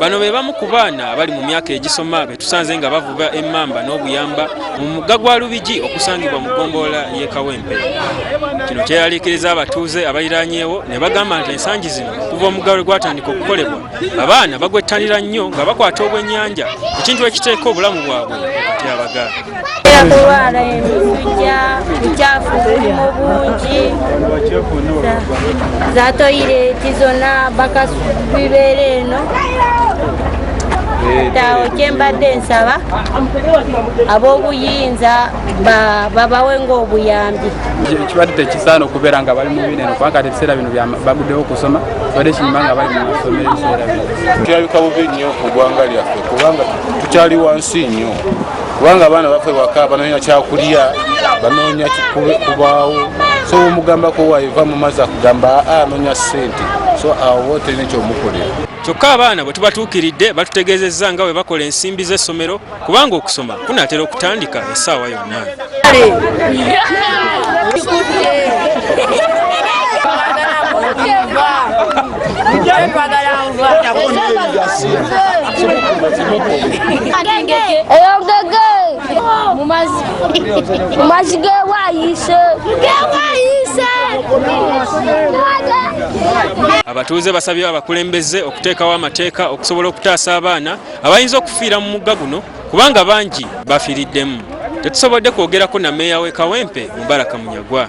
Bano be bamu ku baana abali mu myaka egisoma be tusanze nga bavuba emmamba n'obuyamba mu mugga gwa Lubigi okusangibwa mu ggombolola y'e Kawempe. Kino kyeyaliikiriza abatuuze abaliraanyeewo ne bagamba nti ensangi zino okuva omugga lwe gwatandika okukolebwa abaana bagwettanira nnyo nga bakwata obwennyanja ekintu ekiteeka obulamu bwabwe mu katyabaga. era kulwala emisujja bucaafu bulimu bungi za toyireti zonna bakasubibeera eno tawo kyembadde nsaba ab'obuyinza babawe ngaobuyambi kibadde tekisaana okubeera nga bali mubineno kubanga kati ebiseera bino baguddewo okusoma kibadde kinyuma nga bali mumasomero ebiseera bino kirabika bubi nnyo ku gwanga lyaffe kubanga tukyali wansi nnyo kubanga abaana bafe waka banoonya kyakulya banoonya kubaawo so omugambako waiva mu mazzi akugamba aa ah, anoonya ssente so awo woterina ekyomukolera kyokka abaana bwe tubatuukiridde batutegeezezza nga bwe bakola ensimbi z'essomero kubanga okusoma kunaatera okutandika essaawa yonna eyogege mumazi gewayise abatuuze basabye abakulembeze okuteekawo amateeka okusobola okutaasa abaana abayinza okufiira mu mugga guno kubanga bangi bafiiriddemu tetusobodde kwogerako na meeya w'e kawempe mubaraka munyagwa